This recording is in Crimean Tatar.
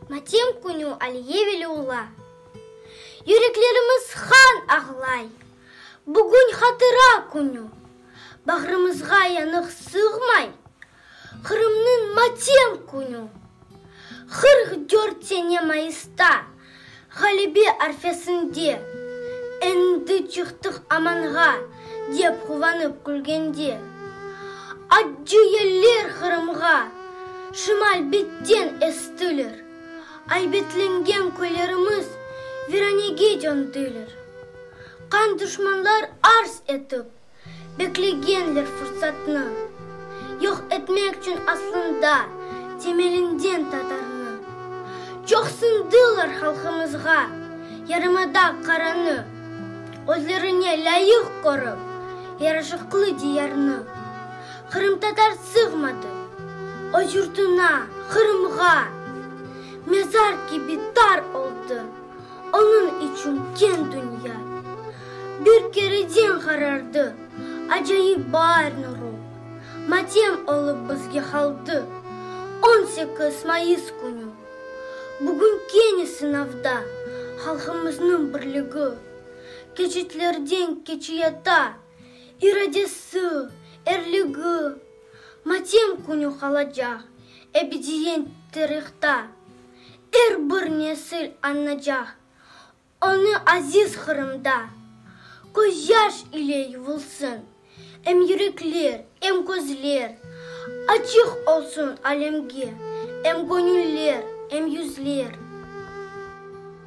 Matem künü Aliyeveli ola. Yüreklerimiz han ağlay. Bugün hatıra künü. Bağrımızğa yanıq sığmay. Qırımnıñ matem künü. Qırq dört sene mayısta. Ğalibi arfesinde, Endi çıqtıq amanğa, dep quvanıp külgende, Accı yeller Qırımğa şimal betten estiler, Aybetlengen köylerimiz viranege döndüler. Qan duşmanlar arz etip. Beklegenler fursatnı. Yoq etmek çün aslında temelinden tatarnı. Çoqsındılar halqımızğa yarımada qaranı. Özlerine lâyıq körip yaraşıqlı diyarnı. Qırımtatar sığmadı öz yurtuna, Qırımğa. Mezar kibi tar oldı Onıñ içün keñ dünya. Bir kereden qarardı. Acayip baar nuru. Matem olıp bizge qaldı. On sekiz mayıs künü. Bugün kene sınavda. Halqımıznıñ birligi. Keçitlerden keçiyata. İradesi, erligi. Matem künü qalacaq. Ebediyent tarihta. Er bir nesil añnacaq. Onı aziz Qırımda. Közyaş ile yuvulsın. Em yürekler, em közler. Açıq olsun alemge. Em göñüller, em yüzler.